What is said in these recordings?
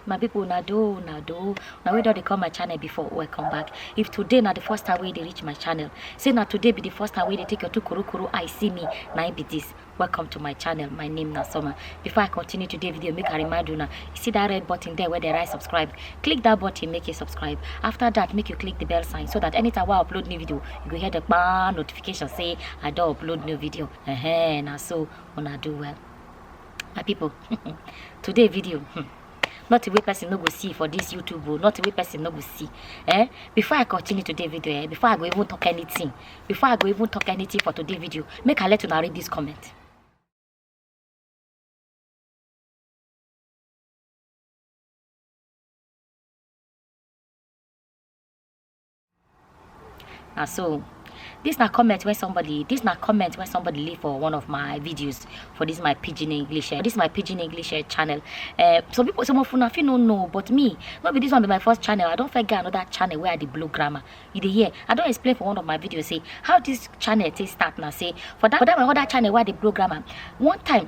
my people na do na do na wey don dey come my channel before welcome back if today na the first time wey you dey reach my channel say na today be the first time wey you dey take your two korokoro eye see me na im be this welcome to my channel my name na summer before i continue today video make i remind una you see that red button there wey dey write subscribe click that button make you subscribe after that make you click the bell sign so that anytime wey i upload new video you go hear the kpa notification say i don upload new video uh -huh, na so una do well my people today video hmm, not a way person no go see for this youtube oh, not a way person no go see eh before i continue today video eh before i go even talk anything before i go even talk anything for today video make i let you read this comment na so this na comment when somebody this na comment when somebody leave for one of my videos for this my pidgin english uh, this my pidgin english uh, channel uh, some people some of una fit no know but me no be this one be my first channel i don first get another channel where i dey blow grammar you dey hear i don explain for one of my videos say how this channel take start na say for that for that my other channel where i dey blow grammar one time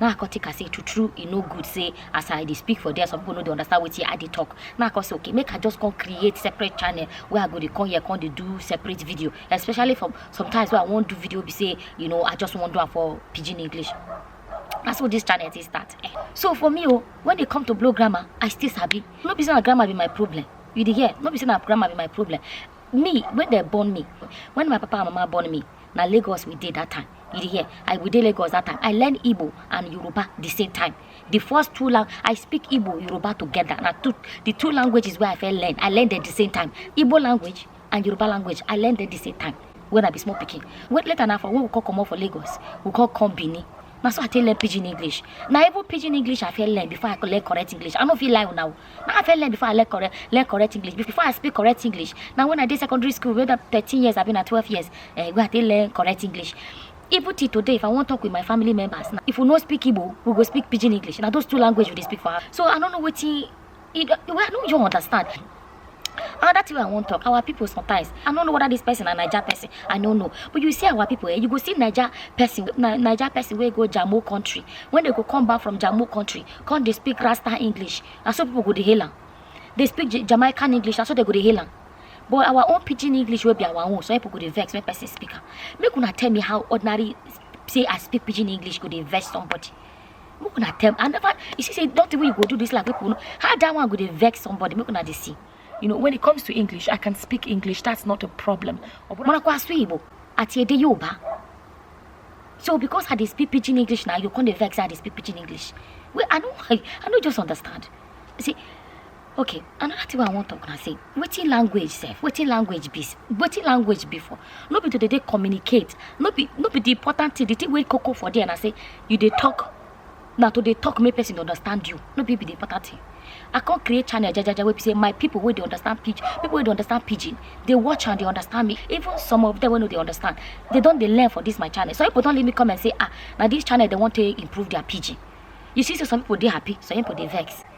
na i come take am say true true e no good say as i dey speak for there some people no dey understand wetin i dey talk na i come say okay make i just come create separate channel wey i go dey come here come dey do separate video especially for sometimes wey i wan do video be say you know i just wan do am for pidgin english na so this channel take start eh so for me o when e come to blow grammar i still sabi no be say na grammar be my problem you dey hear no be say na grammar be my problem me wey dem born me when my papa and mama born me na lagos we dey that time you dey hear i we dey lagos that time i learn igbo and yoruba the same time the first two lang i speak igbo yoruba together na two the two languages wey i fit learn i learn them the same time igbo language and yoruba language i learn them the same time when i be small pikin when later na for when we come comot for lagos we come come benin na so i take learn pidgin english na even pidgin english i fit learn before i learn correct english i no fit lie una o I fell learn before I learn correct, learn correct English. Before I speak correct English. Now when I did secondary school, whether 13 years, I've been at 12 years, uh, where I did learn correct English. Even till today, if I want to talk with my family members, now, if we not speak Igbo, we go speak Pidgin English. Now those two languages we speak for her. So I don't know what he, he, well, no, you understand. another thing wey i wan talk our people sometimes i no know whether this person na naija person i no know but you see our people eh you go see naija person na naija person wey go jamo country when they go come back from jamo country come dey speak rasta english na so people go dey hail am dey speak Ja- jamaican english na so they go dey hail am but our own pidgin english wey be our own some people go dey vex when person speak am make una tell me how ordinary say i speak pidgin english go dey vex somebody make una tell i never you see say nothing wey you go do this like people know how that one go dey vex somebody make una dey see you know when it comes to english i can speak english that's not a problem ọbụna kwa asụ igbo ati ede yoruba so because i dey speak pidgin english na you come dey vex say i dey speak pidgin english well i no i, I no just understand see okay another thing wey i wan talk na say wetin language sef wetin language be wetin language be for no be to dey dey communicate no be no be the important thing the thing wey koko for there na say you dey talk na to dey talk make person understand you no be be the important thing i come create channel jajaja wey be say my people wey dey understand pidgin people wey dey understand pidgin dey watch and dey understand me even some of them wey no dey understand they don dey learn for this my channel some people don leave me comment say ah na this channel dey wan take improve their pidgin you see say some people dey happy some people dey vex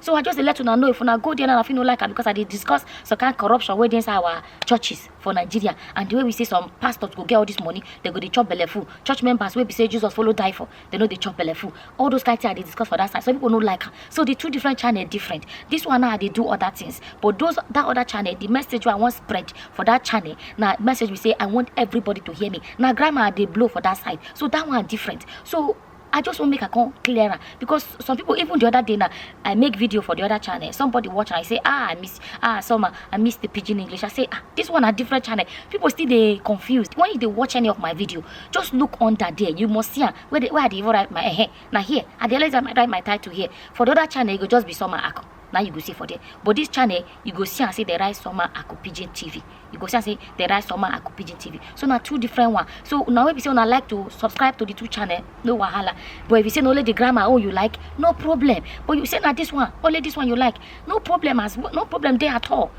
so i just dey let una know if una go there now i fit no like am because i dey discuss some kind corruption wey dey inside our churches for nigeria and the way we say some pastors go get all this money they go dey chop belle full church members wey be say jesus follow die for they no dey chop belle full all those kind things i dey discuss for that side some people no like am so the two different channel different this one now i dey do other things but those that other channel the message wey i wan spread for that channel na message be say i want everybody to hear me na grammar i dey blow for that side so that one different so i just want make i come clear am because some people even the other day now i make video for the other channel somebody watch and i say ah i miss ah summer i miss the pidgin english i say ah this one a different channel people still they confused when you they watch any of my video just look under there you must see am where they where i dey even write my eh now here i dey always write my title here for the other channel e go just be summer akon Now you go see for there. But this channel, you go see and say the right summer Aku Pigeon TV. You go see and say the right summer Aku Pigeon TV. So now two different one. So now if you say I like to subscribe to the two channel, no wahala. But if you say only the grammar, oh you like, no problem. But you say now this one, only this one you like, no problem as no problem there at all.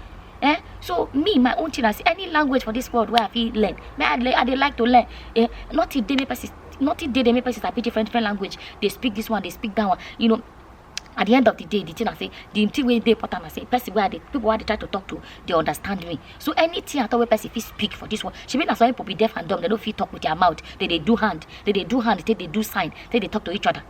Eh? So me, my own thing, as any language for this world where I feel learn. May I, I, I like to learn. Eh? Not if they make person, not if they, they make person happy different different language. They speak this one, they speak that one. You know, at the end of the day the thing i say the thing wey dey important na say person wey i dey people wey i dey try to talk to dey understand me so anything at all wey person fit speak for this one shebi na some people be deaf and dumb they no fit talk with their mouth they dey do hand they dey do hand take dey do sign take dey talk to each other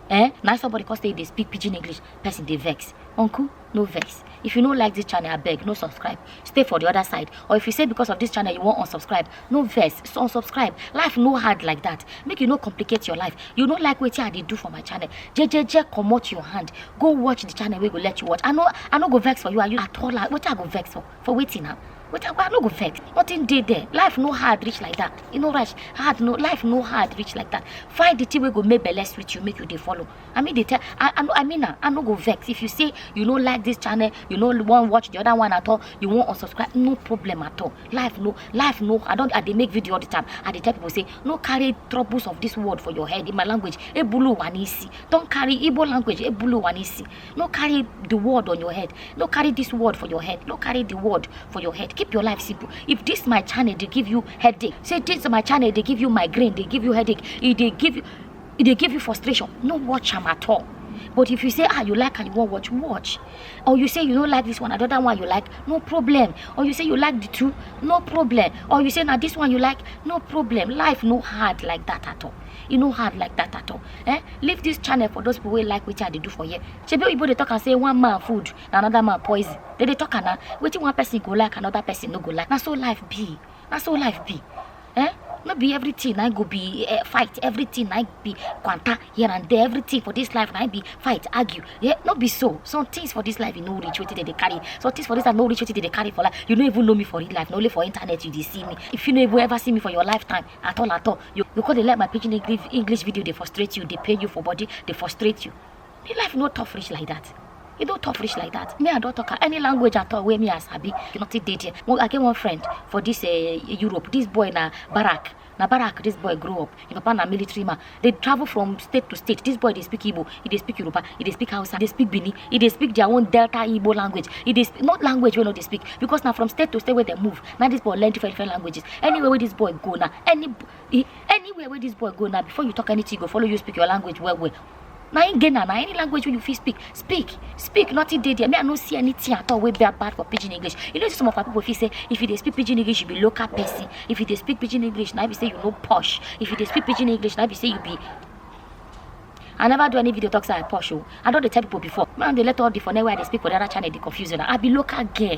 eh na somebody come say e dey speak pidgin english person dey vex uncle no vex if you no like this channel abeg no subscribe stay for the other side or if you say because of this channel you wan unsubscribe no vex so unsubscribe life no hard like that make you no complicate your life you no like wetin i dey do for my channel jejeje comot your hand go watch the channel wey go let you watch i no i no go vex for you and you at all ah, wetin i go vex for for wetin na wetin i go i no go vex nothing dey there life no hard reach like that e no rush hard no life no hard reach like that find the thing wey go make belle sweet you make you dey follow I mean, they tell, I, I, I mean, I no go vex. If you say you no like this channel, you no want watch the other one at all, you won't unsubscribe, no problem at all. Life no, life no, I don't, I they make video all the time. I they tell people say, no carry troubles of this world for your head in my language. Ebulu wanisi. Don't carry Igbo language, Ebulu wanisi. No carry the word on your head. No carry this word for your head. No carry the word for your head. Keep your life simple. If this my channel, they give you headache. Say this my channel, they give you migraine, they give you headache. If they give you, e dey give you frustration no watch am at all but if you say ah you like and you wan watch watch or you say you no like this one another one you like no problem or you say you like the two no problem or you say na this one you like no problem life no hard like that at all e no hard like that at all eh leave this channel for those people wey like wetin i dey do for here shebi oyibo dey talk am say one man food na another man poison dey dey talk am na wetin one person go like another person no go like na so life be na so life be eh no be everything na go be uh, fight everything na be kwanta here and there everything for this life na be fight argue yeah, no be so some things for this life you no reach wetin dem dey carry some things for this life no reach wetin dem dey carry for life you no even know me for real life na only for internet you dey see me if you no even ever see me for your lifetime at all at all you you come dey let my pidgin english english video dey frustrate you dey pain you for body dey frustrate you the life no tough reach like that e don tough reach like that me i don talk any language at all wey me i sabi nothing dey there i get one friend for this uh, europe this boy na barak na barak this boy grow up him papa na military man dey travel from state to state this boy dey speak igbo he dey speak yoruba he dey speak hausa dey speak bini he dey speak their own delta igbo language he dey not language wey no dey speak because na from state to state wey dem move na this boy learn different different languages anywhere wey this boy go na any anywhere wey this boy go na before you talk anything he go follow you speak your language well well na im get na na any language wey you fit speak speak speak nothing dey there me i no see anything at all wey be bad for pidgin english you know some of our people fit say if you dey speak pidgin english you be local person if you dey speak pidgin english na be say you no posh if you dey speak pidgin english na be say you be I never do any video talks like posh. Oh. I don't tell people before. Man, they let all the phone where they speak for the other channel, they confuse you. I be local girl.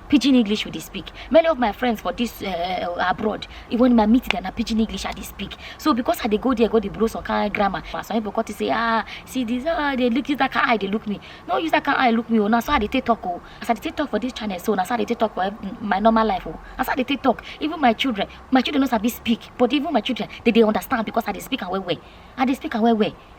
pidgin english we dey speak many of my friends for this uh, abroad even my meet them na pidgin english i dey speak so because i dey go there go dey blow some kind grammar and some people come to say ah see this ah they look use that kind eye dey look me no use that kind eye look me o oh, na so i dey take talk o oh. as i dey take talk for this channel so na so i dey take talk for my normal life o oh. na so i dey take talk even my children my children no sabi speak but even my children they dey understand because i dey speak am well well i dey speak am well well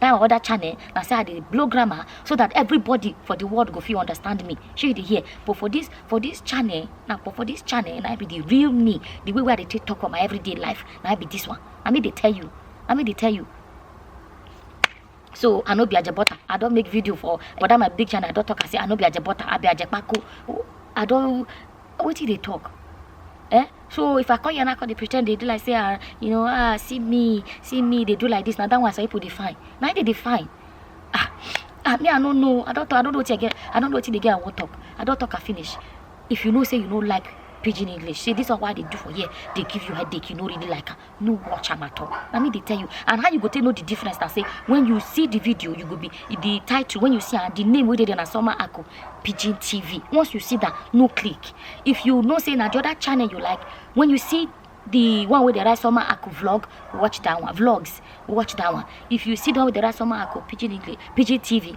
that other channel na say i dey blow grammar so that everybody for the world go fit understand me shey you dey hear but for this for this channel na but for this channel na be the real me the way wey i dey take talk for my everyday life na be this one na me dey tell you na me dey tell you so i no be ajebota i don make video for for that my big channel i don talk am say i no be ajebota i be ajepako i don wetin you dey talk eh so if i come here now come dey pre ten d dey do like say ah you know ah see me see me dey do like this na that one some people dey fine na im dey dey fine ah ah me i no know i don talk i no know wetin i get i no know wetin the girl wan talk i don talk am finish if you know say you no like pidgin english say this one wey i dey do for here dey give you headache you no really like am no watch am at all na me dey tell you and how you go take know the difference na say when you see the video you go be the title when you see am the name wey dey there na summer ako pidgin tv once you see that no click if you know say na the other channel you like when you see the one wey dey write summer ako vlog watch that one vlogs watch that one if you see the one wey dey write summer ako pidgin english pidgin tv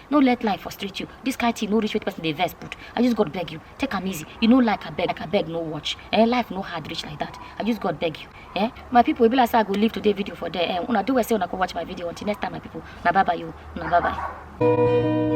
no let life frustrate you this kind thing no reach wetin person dey vex put i just god beg you take am easy you no like abeg like abeg no watch eh life no hard reach like that i just god beg you eh my people e be like say i go leave today video for there eh una do well say una go watch my video until next time my people na bye bye you na bye bye.